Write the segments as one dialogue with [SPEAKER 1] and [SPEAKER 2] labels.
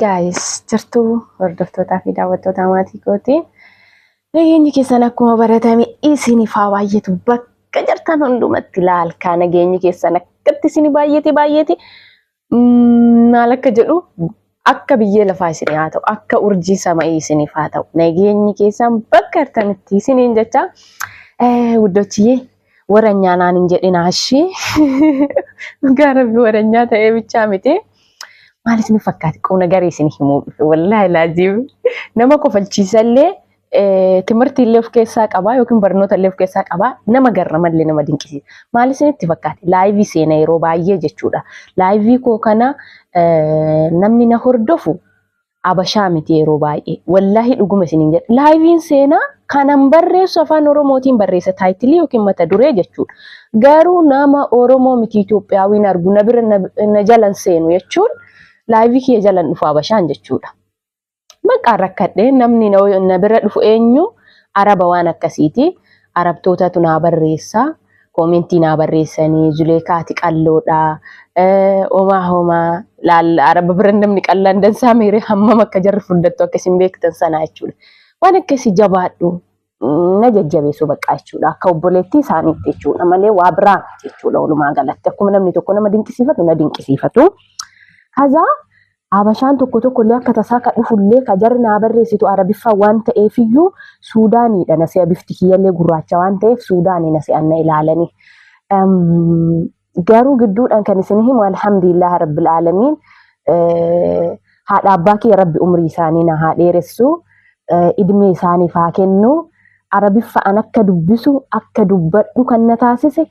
[SPEAKER 1] Gaayis jirtuu hordoftootaa fi daawwattootaa maatii kootii nageenyi keessan akkuma baratame isiniif haa baay'atu bakka jirtan hundumatti laalkaa nageenyi keessan akkatti isin baay'ate baay'ate maal akka jedhu Akka biyyee lafaa isinii haa ta'u akka urjii sama'ii isiniif haa ta'u nageenyi keessaan bakka artanitti isiniin jecha wuddochiyee waranyaa naan hin jedhinaa ishii dhugaa rabbi waranyaa ta'ee bichaa miti maal isin fakkaati qubna garii isin himuu dhufe wallaahi laaziim nama kofalchiisallee timirtii illee of keessaa qabaa yookiin barnoota illee of keessaa qabaa nama garra malee nama dinqisiisa. Maal isinitti fakkaate? Laayivii seena yeroo baay'ee jechuudha. Laayivii koo kana namni na hordofu abashaa miti yeroo baay'ee. Wallaahi dhuguma isiniin jedha. Laayiviin seenaa kanan barreessu afaan Oromootiin barreessa taayitilii yookiin mata duree jechuudha. Garuu nama Oromoo miti Itoophiyaawiin argu na bira na jalan seenu jechuun laayivii kiyya jalan dhufu abashaan jechuudha. Bakka rakkadhe namni na bira dhufu eenyu araba waan akkasiiti. Arabtootatu naa barreessa. Koomentii naa barreessanii Zuleekaa ati qalloodha. Homaa homaa laalla araba bira namni qallaan dansaa meeree hammam akka jarri furdattu akka isin beektan sanaa jechuudha. Waan akkasii jabaadhu. na jajjabeessu baqqaa jechuudha. Akka obboleetti isaaniitti jechuudha malee waa biraa miti jechuudha walumaa galatti. Akkuma namni tokko nama dinqisiifatu na dinqisiifatu. Kazaa Habashaan tokko tokko illee akka tasaa ka dhufullee ka jarri naa barreessitu Arabiffaa waan ta'eefiyyuu Suudaaniidha na se'a bifti kiyyallee gurraacha waan ta'eef Suudaanii na se'an na ilaalanii. Garuu gidduudhaan kan isin himu alhamdulillah rabbil aalamiin haadha abbaa kiyya rabbi umrii isaanii na haa dheeressu idmee isaaniif haa kennu arabiffa'an akka dubbisu akka dubbadhu kan na taasise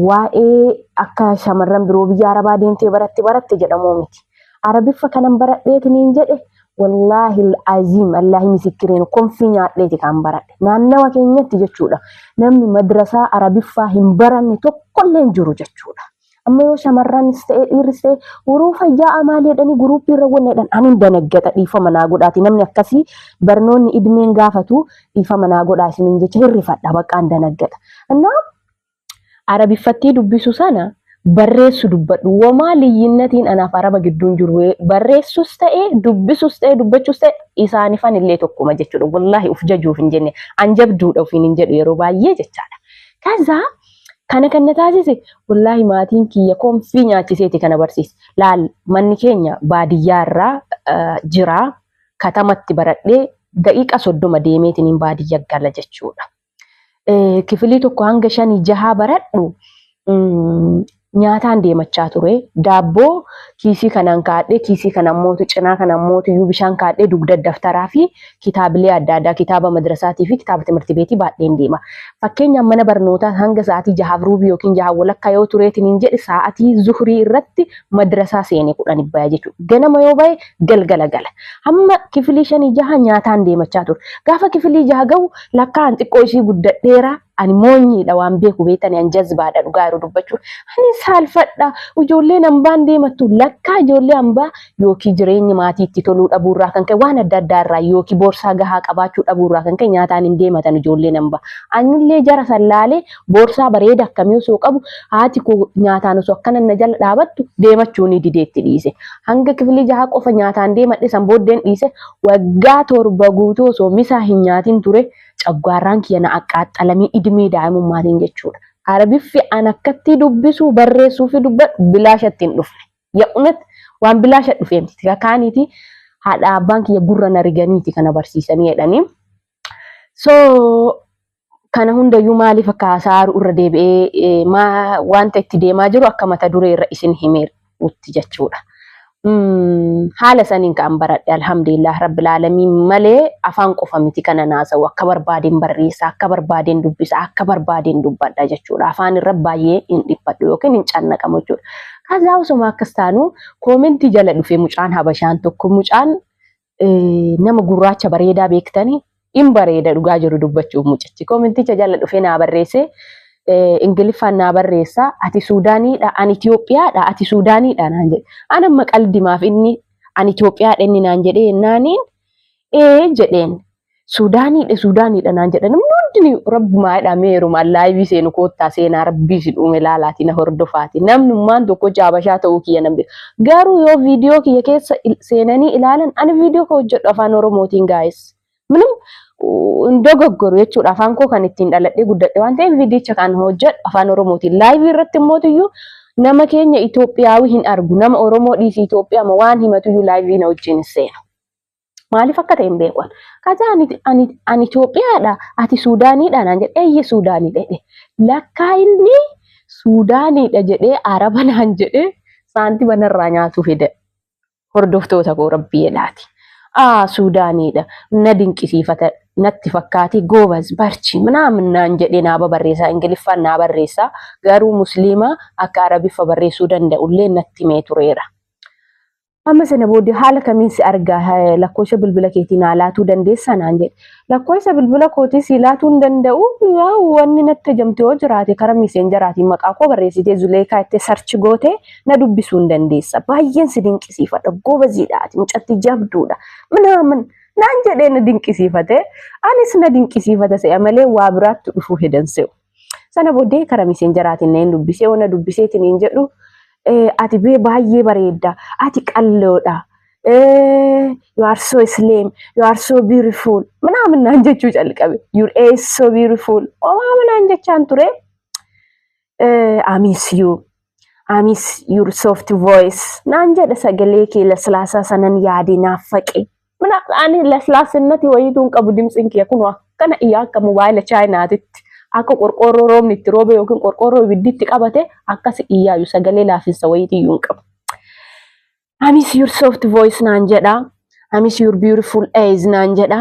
[SPEAKER 1] waa'ee akka shamarran biroo biyya arabaa deemtee baratti baratte jedhamuu miti. Arabiffa kanan baradheetiniin jedhe wallaahi aziim allaahi misikiriin konfii nyaadheeti kaan baradhe naannawa keenyatti jechuudha namni madrasaa arabiffaa hin baranne tokkollee hin jiru jechuudha amma yoo shamarranis ta'e dhiirris ta'e waruu fayyaa amaalee jedhanii guruuppii irra wanna jedhan ani hin danaggata dhiifama naa godhaati namni akkasii barnoonni idmeen gaafatu dhiifama naa godhaa isiniin jecha hirrifadha baqqaa hin danaggata annaa Arabiffattii dubbisu sana barreessu dubbadhu. Womaa liyyinnatiin anaaf Araba gidduun jiru barreessus ta'e dubbisus ta'e dubbachus ta'e isaanifan illee tokkuma jechuudha. Wallaahi uf jajuuf hin jenne an jabduudha ofiin hin jedhu yeroo baay'ee jechaadha. Kaza kana kan na taasise wallaahi maatiin kiyya konfii nyaachiseeti kana barsiise. Laal manni keenya baadiyyaa irraa eh, jira katamatti baradhee daqiiqa soddoma deemeetiin baadiyya gala jechuudha. kifilii tokko hanga shanii jahaa baradhu nyaataan deemachaa ture. Daabboo kiisii kanaan kaadhee kiisii kana mootu cinaa kana mootu iyyuu bishaan kaadhee dugda daftaraa fi kitaabilee adda addaa kitaaba madrasaatii fi kitaaba timirti beetii baadheen deema. Fakkeenyaaf mana barnootaa hanga sa'aatii jahaaf ruubii yookiin jahaa walakkaa yoo tureetiin hin jedhe sa'aatii zuhrii irratti madrasaa seenee kudhan ibbaya jechuudha. Ganama yoo bahe galgala gala. Hamma kifilii shanii jaha nyaataan deemachaa ture. Gaafa kifilii jaha gahu Lakkaa an xiqqoo ishii guddadheera ani moonyiidha waan beeku beetani an jazbaadha dhugaa yeroo dubbachuu ani saalfadha ijoolleen ambaan deemattu lakkaa ijoollee ambaa yookii jireenyi maatii itti toluu dhabuu irraa kan ka'e waan adda addaa irraa yookii boorsaa gahaa qabaachuu dhabuu irraa kan ka'e nyaataan hin deematan ijoolleen ambaa anillee jara san laalee boorsaa bareeda akkamii osoo qabu haati koo nyaataan osoo akkana na jala dhaabattu deemachuu ni dideetti dhiise hanga kifilii jahaa qofa nyaataan deemadhe san booddeen dhiise Waggaa torba guutuu osoo misaa hin nyaatin ture, coggaarraan kiyya na aqqaaxxalamee idmee daa'imummaatiin jechuudha. Arabiffi an akkattii dubbisuu, barreessuu fi dubbadhu bilaashatti hin dhufne. Ya'unet waan bilaasha dhufee miti. Tika kaaniiti haadha abbaan kiyya gurra na riganiiti ka na barsiisanii jedhanii. So kana hundayyuu maaliif akka haasa'aaru irra deebi'ee maa wanta itti deemaa jiru akka mata duree irra isin himeerutti jechuudha. Haala saniin kan baradhe alhamdulillah rabbil aalamiin malee afaan qofa miti kana naasa'u akka barbaadeen barreessa akka barbaadeen dubbisa akka barbaadeen dubbadha jechuudha. Afaan irra baay'ee hin dhiphadhu yookiin hin cannaqamu jechuudha. Kazaa osuma akkas taanu koomentii jala dhufe mucaan habashaan tokko mucaan nama gurraacha bareedaa beektanii in bareeda dhugaa jiru dubbachuuf mucichi. Koomenticha jala dhufee naa barreessee Ingiliffaan naa barreessaa ati Suudaaniidha ani Itoophiyaadha ati Suudaaniidha naan jedhe. An amma qaldimaaf inni ani Itoophiyaadha inni naan jedhee naaniin ee jedheen Suudaaniidha Suudaaniidha naan jedhan namni hundinuu rabbumaa jedhaa mee heerumaan laayivii seenu koottaa seenaa rabbii isin uume laalaati na hordofaati namnummaan tokko jaabashaa ta'uu kiyya nan beeka garuu yoo viidiyoo kiyya keessa il- seenanii ilaalan ani viidiyoo koo hojjedhu afaan oromootiin gaa'es minum hin dogoggoru jechuudha afaan koo kan ittiin dhaladhee guddadhe waan ta'eef viidiyicha kan hojjedhu afaan oromootiin laayivii irratti immootiyyuu nama keenya Itoophiyaawii hin argu nama oromoo dhiisii Itoophiyaama waan himatuyyuu laayivii na wajjin hin seenu. Maaliif akka ta'e hin beekan. Kaza ani, ani, ani Itoophiyaadha, ati Suudaaniidha naan jedhe, eeyye Suudaaniidha jedhe. Lakkaa inni Suudaaniidha jedhee Araba naan jedhe saantima narraa nyaatuu fida. Hordoftoota koo rabbii jedhaati. Aa Suudaaniidha na dinqisiifata natti fakkaati goobaz barchi minaamin naan jedhe naa babarreessaa Ingiliffaan naa barreessaa garuu musliima akka Arabiffa barreessuu danda'ullee natti mee tureera. Amma sana booddee haala kamiin si argaa eh, lakkoofsa bilbila keetii naa laatuu dandeessaa naan jedhe. Lakkoofsa bilbila kootii si laatuu hin danda'u yaa wanni natti hajamte yoo jiraate karaa miiseenjaraatiin maqaa koo barreessitee zuleekaa itti sarchi gootee na dubbisuu hin dandeessa. Baay'een si dinqisiifadha goobaziidha ati mucatti jabduudha minaamin naan jedhee na dinqisiifate anis na dinqisiifata se'a malee waa biraatti dhufuu hedan se'u. Sana booddee kara miseenjaraatiin na hin dubbisee ona dubbiseetiin hin jedhu eh, ati bee baay'ee bareedda ati qalloodha eh, you are so slim you are so beautiful minaamin naan jechuu calqabe your age so beautiful omaama naan jechaan ture eh, I miss you I miss your soft voice naan jedha sagalee kee laslaasaa sanan yaade naaf faqe. Mana ani laslaasennati wayiituu hin qabu dimtsin kiyya kun akkana iyyaa akka mobaayila chaayinaatitti akka qorqoorroo roobni itti roobe yookiin qorqoorroo ibiddi itti qabate akkas iyyaayu sagalee laafinsa wayiitii iyyuu hin qabu. Amis your soft voice naan jedha. Amis your beautiful eyes naan jedha.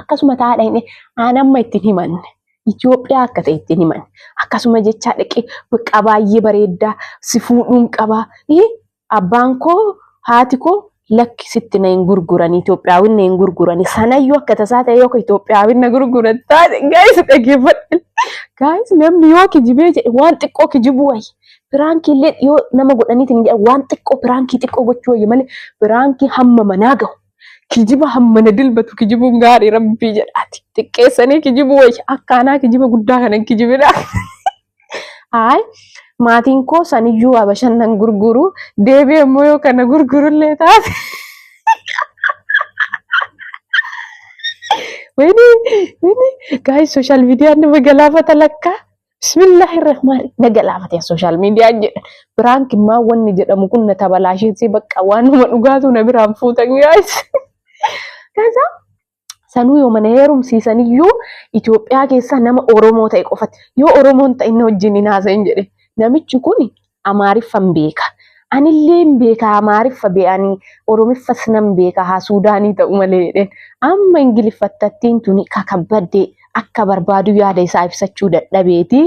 [SPEAKER 1] akkasuma taa'aa dhaqne aan amma ittiin himanne Itoophiyaa akka ta'e ittiin himanne akkasuma jechaa dhaqee baqqaa baay'ee bareeddaa si fuudhuun qabaa abbaan koo haati koo lakki sitti na hin gurguran Itoophiyaawin na hin gurguran sanayyuu akka tasaa ta'e yookaan Itoophiyaawin na gurguran taate gaa'is dhaggeeffadhe gaa'is namni yoo kijibee jedhe waan xiqqoo kijibuu wayya. Piraankii illee yoo nama godhaniitiin waan xiqqoo piraankii xiqqoo gochuu wayya malee piraankii hamma manaa gahu. Kijiba hammana dilbatu kijibuun gaarii rabbii jedhaati. Xiqqeessanii kijibuu wayya akkaanaa kijiba guddaa kana hin kijibinaa. Haay maatiin koo saniyyuu abashan nan gurguru deebi'ee immoo yoo kana gurgurullee taate. Wayne wayne gaayis sooshaal miidiyaan nama galaafata lakkaa. Bismillaahi rahmaani na galaafate sooshaal miidiyaan jedha. Biraanki maa wanni jedhamu kun na tabalaashinsee bakka waanuma dhugaatu na biraan fuutan gaayis. Kaza sanuu yoo mana heerumsiisan iyyuu Itoophiyaa keessaa nama Oromoo ta'e qofatti yoo Oromoon ta'e inni wajjin hin haasa'in jedhe. Namichi kun Amaariffan beeka. Anilleen beeka Amaariffa be'anii Oromiffas nan beeka haa Suudaanii ta'u malee jedheen. Amma Ingiliffattattiin tuni kakabbadde akka barbaadu yaada isaa ibsachuu dadhabeeti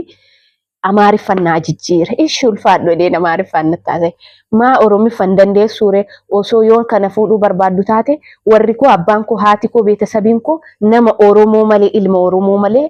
[SPEAKER 1] Amaariffan naa jijjiire. Ishi ulfaadhu jedheen Amaariffaan natti haasa'e. Maa Oromiffan dandeessuure osoo yoon kana fuudhuu barbaaddu taate warri koo abbaan koo haati koo beetasabiin koo nama Oromoo malee ilma Oromoo malee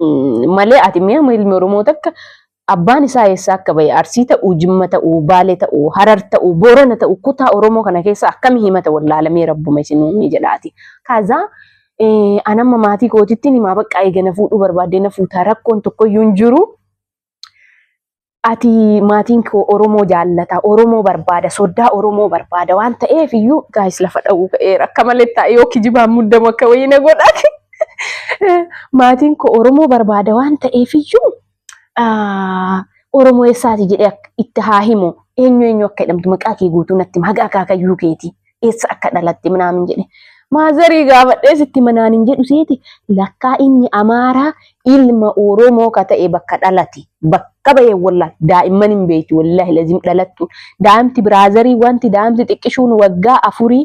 [SPEAKER 1] Mm, malee ati mi'a ilmi Oromoo takka abbaan isaa eessaa akka ba'e Arsii ta'uu, Jimma ta'uu, Baalee ta'uu, Harar ta'uu, Boorana ta'uu kutaa Oromoo kana keessa akkami himata wallaalamee rabbuma isin uumee jedhaati. Kaazaa eh, an amma maatii kootittiin himaa baqqaa eega na fuudhuu barbaaddee na fuutaa rakkoon tokkoyyuu hin jiru. ati maatiin koo Oromoo jaallata, Oromoo barbaada, soddaa Oromoo barbaada waan ta'eef iyyuu gaayis lafa dha'uu ka'eera akka malee taa'e yoo kijibaan muddamu akka wayii na godhaati. maatiin koo Oromoo barbaada waan ta'eef iyyuu Oromoo eessaati jedhee itti haa himu eenyu eenyu akka jedhamtu maqaa kee guutuu natti hima haga akaakayyuu keetii. eessa akka dhalatte minaamin jedhe maazarii gaafadhee sitti manaan hin jedhu seeti lakkaa inni amaaraa ilma oromoo ka ta'e bakka dhalate bakka bahee wallaa daa'imman hin beekti wallaahi lazim dhalattu daa'imti biraazarii wanti daa'imti xiqqishuun waggaa afurii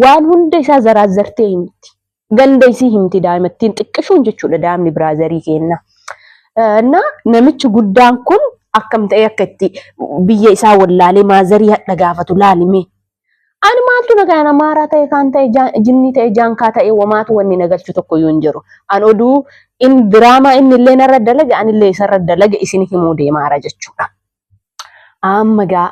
[SPEAKER 1] waan hunda isaa zaraazzartee himti Ganda isii himti daa'imattiin xiqqishoon jechuudha daa'imni biraazarii keenna. Na namichi guddaan kun akkam ta'ee akka itti biyya isaa wallaalee maazarii hadha gaafatu laalime. Ani maaltu na kana maaraa ta'e kaan ta'e jinnii ta'e jaankaa ta'e wamaatu wanni na galchu tokko iyyuu hin jiru. An oduu in diraamaa inni illee narra dalage anillee isarra dalage isin himuu deemaara jechuudha. Amma gaa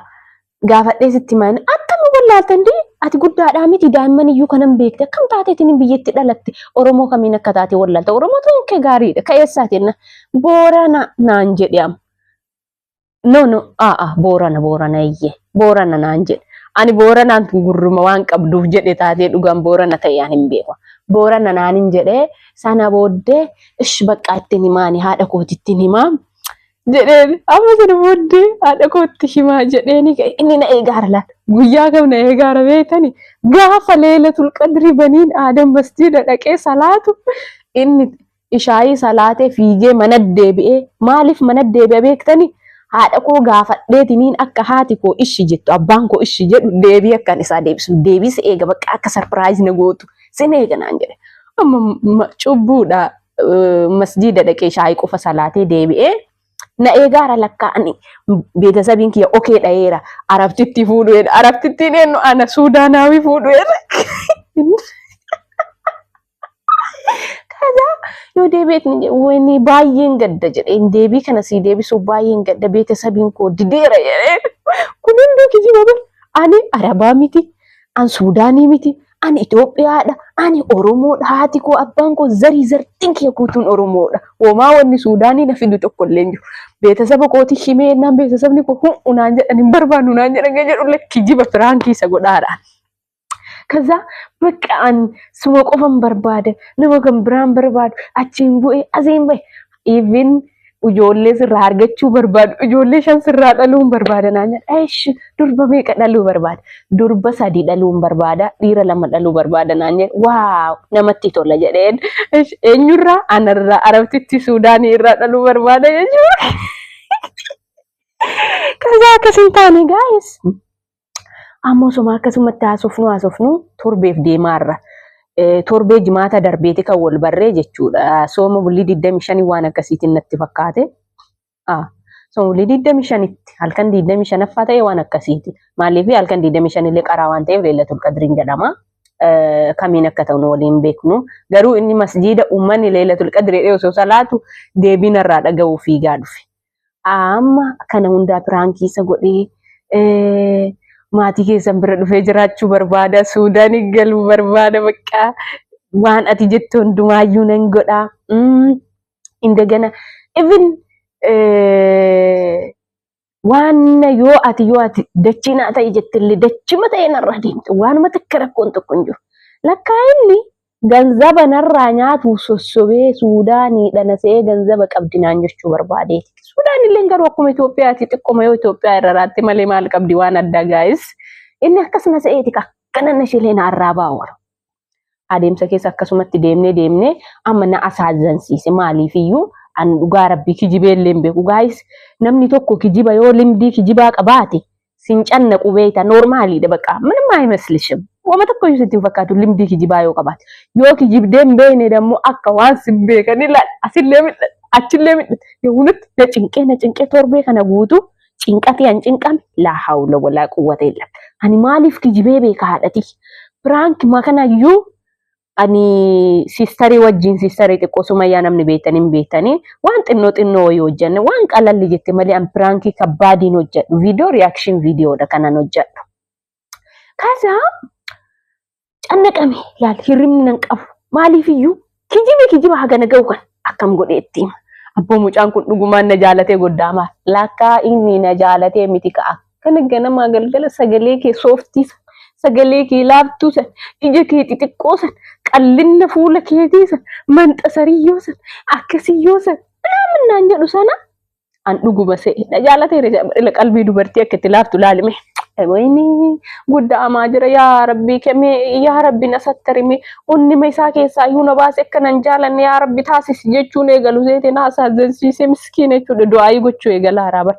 [SPEAKER 1] gaafadhee sitti mana akkam wallaaltan dee ati guddaadhaa miti daa'imman iyyuu kanan beekte akkam taateetiin biyyatti dhalatte Oromoo kamiin akka taate wallaalta Oromoo ta'uun kee gaariidha ka eessaatiin na boorana naan jedhe amma. No no aa boorana boorana iyyee boorana naan jedhe ani booranaan tun gurruma waan qabduuf jedhe taatee dhugaan boorana ta'e ani hin beeku. Boorana naan hin jedhee sana booddee ish baqqaa ittiin himaani haadha kooti ittiin himaa jedheen amma sana booddee haadha kootti himaa jedheeni ka'e inni na eegaara laata guyyaa kam na eegaara beektani gaafa leela tulqadri baniin aadan masjiida dhaqee salaatu inni ishaayii salaatee fiigee mana deebi'ee maaliif mana deebi'a beektani haadha koo gaafadheetiniin akka haati koo ishi jettu abbaan koo ishi jedhu deebii akkan isaa deebisu deebii si eega bakka akka sarpiraayiz na gootu sin eega naan jedhe amma ma- cubbuudha masjiida dhaqee shaayii qofa salaatee deebi'ee na eegaara lakkaa ani beetasabiin kiyya okee dhayeera arabtitti fuudhu'eera arabtittiin eenyu ana suudaanaawii fuudhu'eera. Kaza yoo deebi'eetti wani baay'een gadda jedheen deebii kana sii deebisuuf baay'een gadda beetasabiin koo dideera jedheen kun hunduu kijiba bar ani arabaa miti an suudaanii miti ani Itoophiyaadha, ani Oromoodha, haati koo, abbaan koo, zarii zartiin kee guutuun Oromoodha. Homaa wanni Suudaanii na fidu tokko illee hin jiru. Beetasaba kooti himee jennaan beetasabni koo hu'u naan jedhan hin barbaannu naan jedhan kan jedhu lakki jiba firaankii isa godhaadha. Kaza bakka an suma qofan barbaada nama kan biraan barbaadu achiin bu'ee asiin bahe Even ijoollee sirraa argachuu barbaadu. Ijoollee shan sirraa dhaluun barbaada naan jedha. Eesh durba meeqa dhaluu barbaada? Durba sadii dhaluun barbaada. Dhiira lama dhaluu barbaada naan jedha. Waaw namatti tola jedheen. Eesh eenyurraa? Anarraa Arabtitti Suudaanii irraa dhaluu barbaada jechuudha. Kasaa akkas hin taane gaa'is. Amma osuma akkasumatti haasofnu haasofnu torbeef deemaarra. Torbee jimaata darbeeti kan wal barree jechuudha. Sooma bulii 25 waan akkasiitiin natti fakkaate. Sooma bulii 25tti halkan 25ffaa ta'e waan akkasiiti. Maaliif halkan 25 illee qaraa waan ta'eef leellatul qadriin jedhama. Kamiin akka ta'u nu waliin beeknu. Garuu inni masjiida uummanni leellatul qadrii osoo salaatu deebiin irraa dhaga'uu fiigaa dhufe. Amma kana hundaa piraankii isa godhee eh, maatii keessan bira dhufee jiraachuu barbaada. Suudaan galuu barbaada baqqaa. Waan ati jettu hundumaayyuu nan godha. Mm, Indagana even eh, waan yoo ati yoo ati dachii naa ta'e jettillee dachima ta'e narraa deemte waanuma takka rakkoon tokko hin jiru. Lakkaa inni Ganzaba narraa nyaatuuf sossobee Suudaanii dhana se'ee ganzaba qabdi naan jechuu barbaadeeti. Suudaan illeen garuu akkuma Itoophiyaati xiqquma yoo Itoophiyaa irra raatte malee maal qabdi waan addaa gaayis. Inni akkas na se'eeti ka akkana na shilee na arraa baawara. Adeemsa keessa akkasumatti deemnee deemnee amma na asaazansiise maaliif iyyuu an dhugaa rabbii kijibee illee hin beeku gaayis. Namni tokko kijiba yoo limdii kijibaa qabaate Sin cannaqu beekta noormaaliidha baqa minimma aymaslishim. Wama tokko iyyuu sitti hin fakkaatu limdii kijibaa yoo qabaate. Yoo kijibdee hin beekne dammoo akka waan sin beekan ilaal asillee midhan achillee midhan yawunutti na cinqee na cinqee torbee kana guutuu cinqatii an cinqame laa hawla walaa quwwata illa. Ani maaliif kijibee beeka haadhatii. Piraank makanayyuu ani sistarii wajjin sistarii xiqqoo sumayyaa namni beektan hin beektanii waan xinnoo xinnoo wayii hojjanne waan qalalli jette malee an piraankii kabbaadiin hojjadhu viidiyoo riyaakshin viidiyoodha kanan hojjadhu. Kaasa cannaqame laal hirribni nan qabu maaliif iyyuu kijibe kijiba hagana ga'u kan akkam godhee itti hima. Abboo mucaan kun dhugumaan na jaalatee goddaamaaf lakkaa inni na jaalatee miti ka'a. Kana ganamaa galgala sagalee kee sooftii san, sagalee kee laaftuu san, ija kee xixiqqoo san, qallinna fuula keetii san, manxasariyyoo san, akkasiyyoo san naaman naan jedhu sana an dhuguma se'e. Na jaalatee qalbii dubartii akka itti laaftu laalime. Wayini guddaa amaa jira yaa rabbii kemee yaa rabbi na sattarime onnima isaa keessaa iyyuu na baase akka nan jaalanne yaa rabbi taasisi jechuun eegalu seetiin haasaa agarsiise miskiina jechuudha du'aayii gochuu eegala haaraa bara.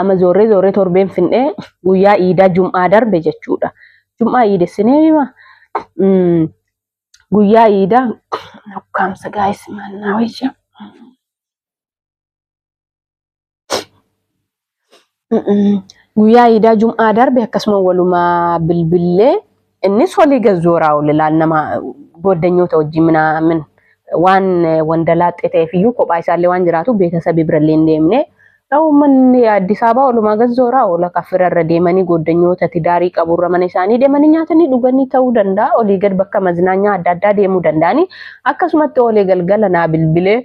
[SPEAKER 1] Amma zoorree zoorree torbeen finnee guyyaa iidaa jum'aa darbe jechuudha. Jum'aa iidessinee hima. Mm, Guyyaa iidaa nukkaamsa gaa'is mannaa wayya. Mm, mm. Guyyaa iidaa jum'aa darbe akkasuma walumaa bilbillee Innis walii gad zooraa oole laal nama gooddanyoota wajjin minaamin waan wandalaaxxee ta'eef iyyuu kophaa isaallee waan jiraatu beetasabii birallee hin deemne. Uummanni Addis Ababaa walumaa gad zooraa oola kaffira irra deemanii gooddanyoota tidaarii qabu irra mana isaanii deemanii nyaatanii dhuganii ta'uu danda'a olii gad bakka maznaanyaa adda addaa deemuu danda'anii akkasumatti oolee galgala naa bilbilee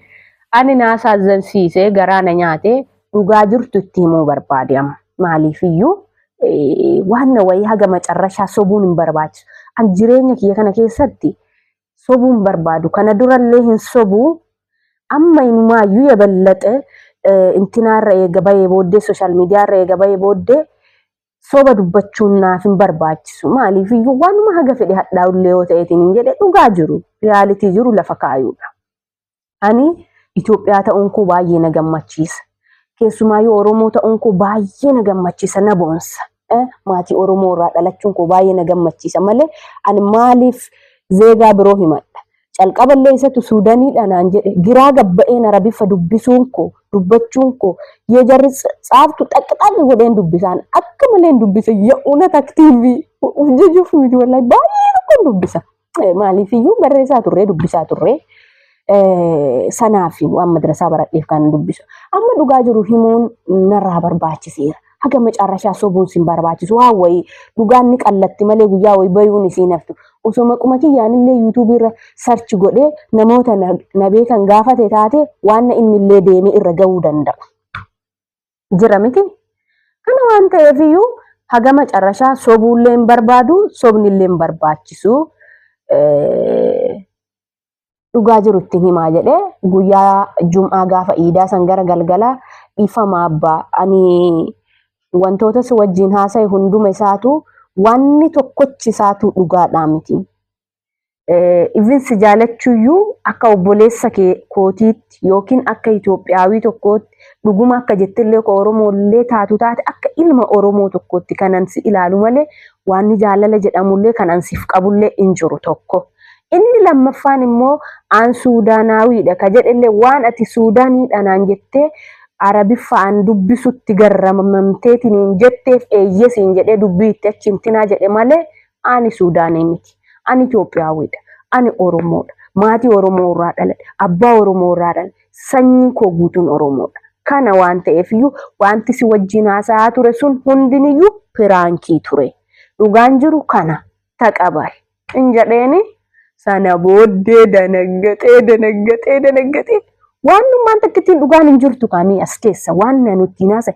[SPEAKER 1] ani naa saazzansiisee garaa na nyaatee dhugaa jirtu itti himuu barbaade amma maaliif iyyuu eh, waan na wayii haga macarrashaa sobuun hin barbaachisu. An jireenya kiyya kana keessatti sobuu hin barbaadu. Kana durallee hin sobuu amma inumaayyuu yaballaxe eh, intinaarra eega bahee booddee sooshaal miidiyaarra eega bahee booddee soba dubbachuun naaf hin barbaachisu. Maaliif iyyuu waanuma haga fedhe hadhaa'ullee yoo ta'eetiin hin jedhe dhugaa jiru riyaalitii jiru lafa kaayuudha. Ani Itoophiyaa ta'uun koo baay'ee na gammachiisa. Keessumaa yoo Oromoo ta'uun koo baay'ee na gammachiisa na boonsa. Eh, Maatii Oromoo irraa dhalachuun koo baay'ee na gammachiisa malee ani maaliif zeegaa biroo himadha. Calqaba illee isatu Suudaniidha naan jedhe giraa gabba'een Arabiffa dubbisuun koo dubbachuun koo yoo jarri tsa- tsaaftu xaqqixaqqi godheen dubbisaan akka maleen dubbisa ya unat aktiivii uf jejuuf miti wallahi baay'een akkan dubbisa. Maaliifiyyuu barreessaa turree dubbisaa turree sanaaf waan madrasaa baradheef kan dubbisu. Amma dhugaa jiru himuun narraa barbaachiseera. Haga macaarrashaa sobuun sin barbaachisu waan wayii dhugaan ni qallatti malee guyyaa wayii bayuun isiin haftu. Osoo maquma kiyyaanillee yuutuubii irra sarchi godhee namoota na beekan gaafate taate waan innillee deemee irra gahuu danda'u. jira miti. Kana waan ta'eef iyyuu haga macarrashaa sobuullee hin barbaadu, sobnillee hin barbaachisu. Dhugaa jiru ittiin himaa jedhee guyyaa jum'aa gaafa iidaa san gara galgalaa dhiifama abbaa ani wantoota si wajjin haasa'e hunduma isaatu wanni tokkochi isaatu dhugaadhaa miti. Even si jaalachuuyyuu akka obboleessa kee kootiitti yookiin akka Itoophiyaawii tokkootti dhuguma akka jettillee koo Oromoollee taatu taate akka ilma Oromoo tokkootti kanan si ilaalu malee waan ni jaalala jedhamullee kan an siif qabullee hin jiru tokko. Inni lammaffaan immoo aan Suudaanaawiidha ka jedhellee waan ati Suudaaniidha naan jettee Arabiffa aan dubbisutti garramamteetiniin jetteef eeyyesiin jedhee dubbii itti achiin tinaa jedhe malee Ani Suudaanii miti. Ani Itoophiyaawwiidha. Ani Oromoodha. Maatii Oromoo irraa dhaladhe. Abbaa Oromoo irraa dhaladhe. Sanyiin koo guutuun Oromoodha. Kana waan ta'eefiyyuu wanti si wajjin haasa'aa ture sun hundiniyyuu piraankii ture. Dhugaan jiru kana. Taqabal. In jedheeni Sana booddee danaggaxee danaggaxee danaggaxee waanummaan takka ittiin dhugaan hin jirtu kaamii as keessa waan na nutti hin haasa'e.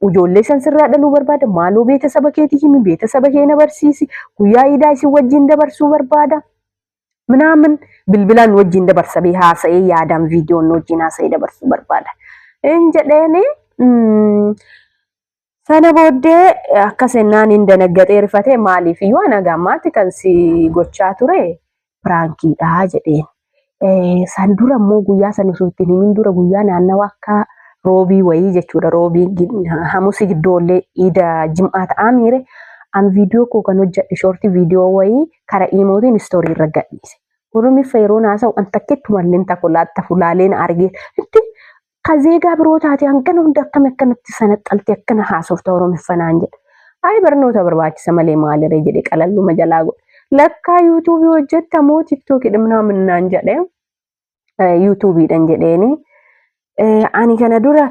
[SPEAKER 1] Ijoollee san sirraa dhaluu barbaada maaloo beeta saba keetii himi beeta saba kee na barsiisi guyyaa iidaa isin wajjin dabarsuu barbaada. Minaamin bilbilaan nu wajjin dabarsa bee haasa'ee yaadaan viidiyoon nu wajjin haasa'ee dabarsuu barbaada. Hin jedheeni mm, Sana booddee akka sennaan hin danaggaxee rifate maaliif iyyuu ana gammaatti kan si gochaa ture piraankiidha jedheen. San dura immoo guyyaa san osoo ittiin himin dura guyyaa naannawa akka roobii wayii jechuudha roobii hamusi giddoollee iida jim'aa ta'aa miire an viidiyoo koo kan hojjedhe shoortii viidiyoo wayii kara iimootiin istoorii irra gadhiise. Oromiffa yeroo naasawu an takkittu malleen takolaatta fulaaleen argee itti Ka zeegaa biroo taate hangana hunda akkami akkanatti sanaxxalte akkana haasofta oromiffa naan jedha. Ayi barnoota barbaachisa malee maaliree jedhe qalalluma jalaa godhe. Lakkaa yuutuubii hojjetta moo tiktookii dhimnaa minnaan jedhe yuutuubiidhan jedheeni. Ani kana dura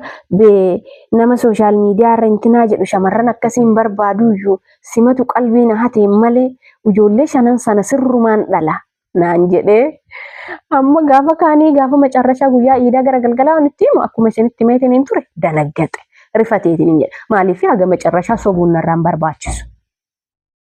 [SPEAKER 1] nama sooshaal miidiyaa irra intinaa jedhu shamarran akkasii hin barbaaduyyuu simatu qalbii na hatee malee ijoollee shanan sana sirrumaan dhala. naan jedhee amma gaafa kaanii gaafa macarrashaa guyyaa iidaa gara galgalaa nutti himu akkuma isinitti himeetiin hin ture danaggaxe rifateetiin hin jedhe maaliif haga macarrashaa sobuun narraan barbaachisu.